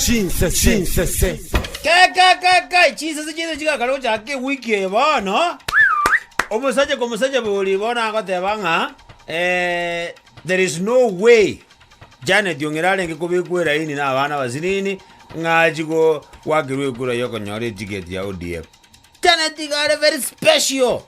Chinsese. Kai kai kai kai chinsese chiaito chigakana gochaka ewiki eye bono omosacha kwa omosacha bori bono agoteba ng'a eh, there is no way Janet ong'ira arenge kobekwa eraini na abana abasinini ng'a achi go gwakirwa ekura yokonyora etiketi ya ODM. Janet iga are very special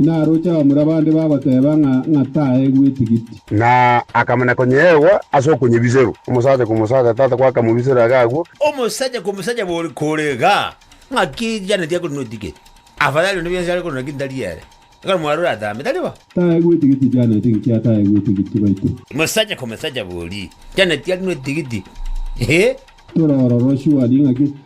naroche abamura bande bagoteeba ng'a ng'atae gw'etigiti. Na akamana konyeegwa ase okonyebiserwa, omosacha kw'omosacha, tata gwakamobiserwa iga agwo. Omosacha kw'omosacha bore kore iga, ng'aki Janeti akorina etigiti? Afadhali onde bionsi are korina kinto tari ere. Ekero mwarure atambe, tari bo? Tae gw'etigiti Janeti, inki atae gw'etigiti baito? Omosacha kw'omosacha bori, Janeti arina etigiti, ee. Tore ororo shwari ng'aki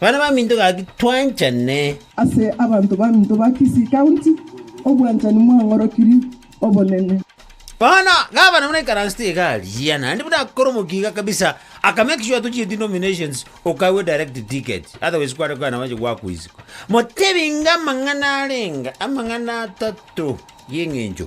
Bana baminto gaki, twanchane. Ase abanto baminto ba Kisii County, obwanchani mwang'orokirie obonene. Bono, gavana buna ekaransi tiga aria, naende buna akore omokiga kabisa, aka make sure tochieti nominations, okagwe direct ticket, otherwise kware kogenda bache gwakuiswa. Motebinge amang'ana arenge amang'ana atato y'eng'encho.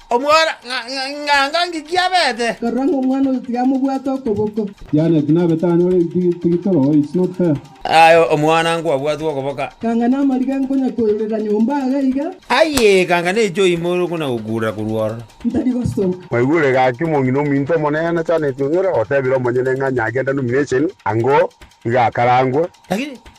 Omwora, ng'a ng'a ng'aki kiabete? Karora ng'a omwana oyo tigamobwate okoboko. Janet, nabe tanyore tigiti toro, it's not fair. Aye omwana nkwabwatwe okoboka. Kanga namariga nkonya koirera nyomba iga iga. Aye kanga neiche oime ore okona gokurera korwa ororo. Ntari gosoka. Mwaigure gaki omong'ina ominto omonene Janet ong'e ore ogotebire omonyene ng'a nyagenda nomination ango iga akarangwe. Lakini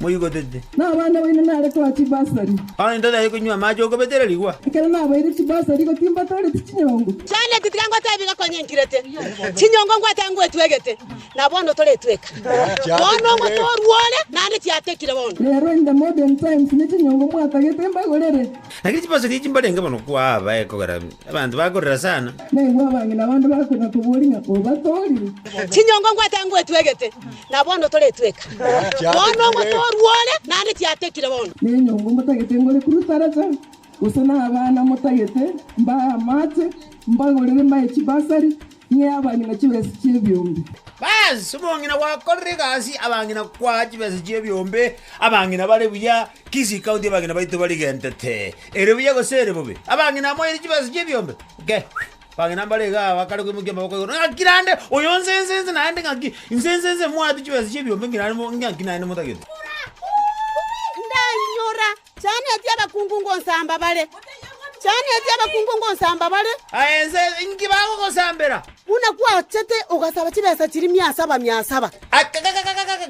moigotete. Na abana baino nare toa chibasari. Onye totaete konywa amache okobetera rigwa. Ekero nabaeire chibasari gotimba toreti chinyongo. Yaani tiga ngotebie iga konya nkirete, chinyongo ngwate ngwetwegete, na bono toretweka. Bono omote orwo ore naende tiatekire bono. Rero in the modern times ne chinyongo mwatagete mbagorere. Lakini chibasari echi mbarenge mono kwaa abaye kogera Abanto bakorera sana. Nainwe abang'ina bande bakonya kobori ng'a obatoorie. Chinyongo ngwate ngwetwegete, na bono toretweka. Bono omotoorwa ore, naende tiatekire bono. Nenyongo motagete ngore kurutaracha, gose nabana motagete mbae amache, mbagorere mbae chibasari, Inye abang'ina chibesa chi'ebiombe. Bas, omong'ina gwakorire egasi, abang'ina kwaa chibesa chi'ebiombe, abang'ina bare buya, kisi county abang'ina baito barigentete, ere buya gose ere bobe, abang'ina amoeire chibesa chi'ebiombe, nke, abang'ina mbare iga aa bakare koimokia amaboko igoro, ng'aki naende, oyo nse nse nse naende ng'aki, nse nse nse moate chibesa chi'ebiombe ng'aki naende mo ng'aki naende motagete. Ndainyora Chaneti abakungu ngonsamba bare, chaneti abakungu ngonsamba bare. Aye inse, inki bagogosambera? Buna gwachete ogasaba chibesa chiria mia saba, mia saba. Aye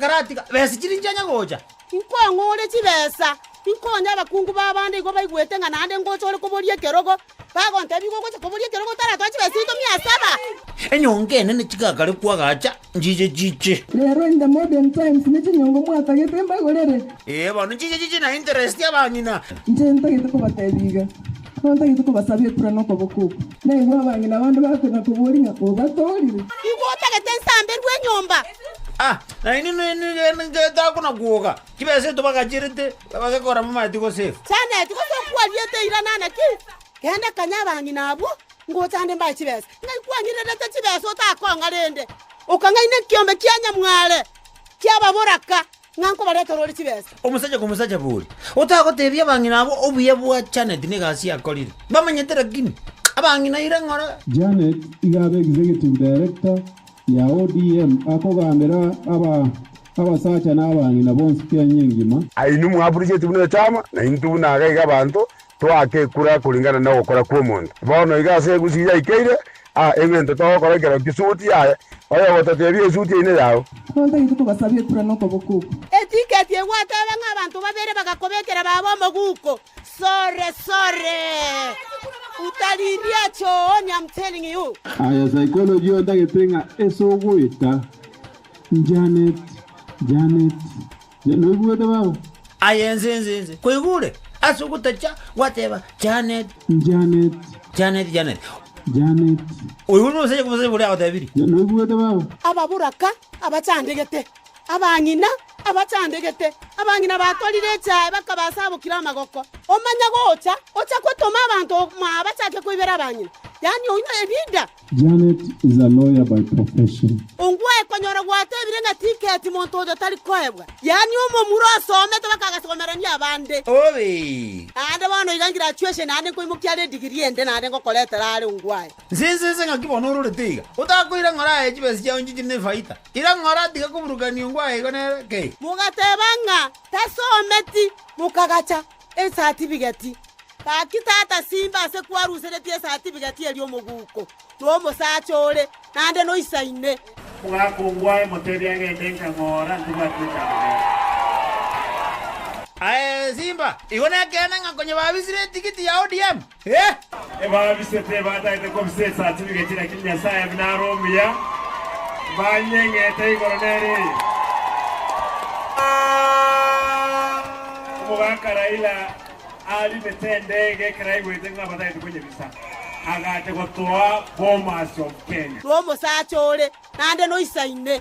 karatiga besa chiria inche nyagocha. Inkong'ure chibesa, inkonye abakungu b'abande igo baigwete ng'a naende ngocha ore koboria ekerogo. Bagonteebia, Igo ogocha koboria ekero gotaratoa chibesa chiaito mia saba? Enyonga enene chigakarekwa agacha, nchiche chiche. Rero in the modern times ne chinyongo mwatagete mbagorere? Ee, bono nchiche chiche na interest y'abang'ina. Inche ntagete kobateebia iga, Nigo ntagete kobasaba ekura na okoboko oko. Naigwe abang'ina bande bakonya koboria ng'a obatoorire. Igo otagete nsamberwe enyomba. Ah, na inwe nigende ngete agwo na gwoga. Chibesa eto bagachrete, bagekora amamati gose efu. Janet, gose okwariete ira nana ki? Genda kanye abang'ina abwo, ngochande mbae chibesa. Ng'ai kwang'irerete chibesa otakong'a rende, okang'aina ekeombe kia nyamware ki'ababoraka, ng'a nkobaretera ore chibesa? Omosacha komosacha bori, otagotebia abang'ina abwo obuya bwa Janet na egasi yakorire. Mbamanyete rakini, abang'ina ira ng'ora. Janet iga abegise egetubu director ya ODM akogambera aba Abasacha na abang'ina bonsi kenya engima. Aye inwe mwaburucheti buna echama, na intwe buna iga iga abanto, toake ekura koringana nogokora kw'omonto. Bono iga ase egusi yaikeire aa eng'encho togokora ekero kisuti yaye, oye ogototebia esuti yaino eyao. Abanto aye tokobasabia ekura nokoboko oko. Etiketi egwateba ng'a abanto babere bagakobekera baba omoguko, sorry, sorry, utalilia chooni, I'm telling you. Aye psychology ontagete ng'a ase ogoeta Janet, Janet, noigwete baba? Aye inse, inse, inse, koigure ase ogotacha gwateba, Janet. Janet. Janet, Janet. Janet. Oyo nosacha kobosacha boria agotebirie. Noigwete baba? Ababoraka abachandegete, abang'ina abachandegete, abang'ina batorire echae bakabasabokira amagoko. Omanya gocha, ocha gotoma abanto mwao bachake koibera abang'ina, yaani oino ebida. Janet is a lawyer by profession. Ongwae konyora gwatebire ng'a tiketi monto oyo tari koebwa, yaani omomura osomete baka agasomerania abande. Naende bono iga ngirachuation yane nkoimokia are edigiri ende naende ngokoretera are Ongwae. Nsensense ng'aki bono ororete iga, otakoira ng'ora aye chibesa chiao nchichire nefaita. Ira ng'ora tiga koburukania Ongwae igo nere, kei. Mogateba ng'a tasometi, mokagacha. esatifigeti. Gaki tata simba ase kwaruseretie esatifigeti eria omoguko nomosacha ore naende noisa ime. Omogaka ogwo aemotebia agende inki amoora ntibwati echando nere. Aye simba, igo nekeene ng'a konye babisire etigiti ya ODM? Ebabisete ebatagete kobisa esaasi bigechire akiri Nyasae buna are omuya, banyeng'ete igoro nere eye. Omogaka Raila arimete endege ekero aigwete ng'a batagete konyebisa, agacha gotoa Bomas of Kenya. N'omosacha ore naende noisaine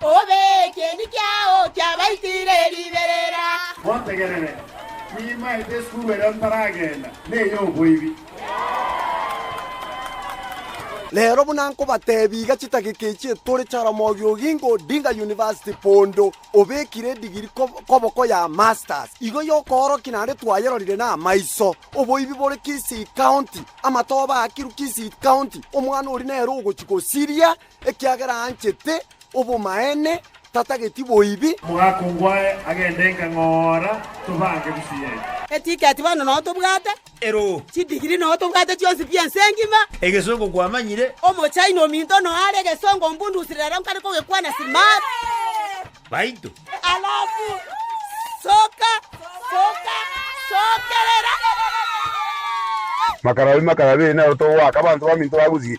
Obe ekeeni kiao kiabaitiire riberera. Motegerere, nimaete esukuru erio ntaragenda, ney'oboibi. Rero buna nkobateebia iga chidageka echi etore, Jaramogi Oginga Odinga University bondo obekire edigiri koboko ya Masters igo y'okoorokia naende twayerorire namaiso. Oboibi bore Kisii County, amatoba aakirwe Kisii County, omwana oria nere ogochia gosiria. ekiagera anchete obomaene, tatageti boibi. Omogaka ngwaye agende enka ng'ora tobange busieri. Etiketi bono noo tobwate. Ero. Chidigiri noo tobwate chionsi pi ense engima. Egesongo kwamanyire. Omochaina ominto noo are egesongo ombundusi rero nkare kogekwana smart. Baito. Alafu soka soka sokerera. Makarabi makarabi nero tobwake abanto baminto bagusie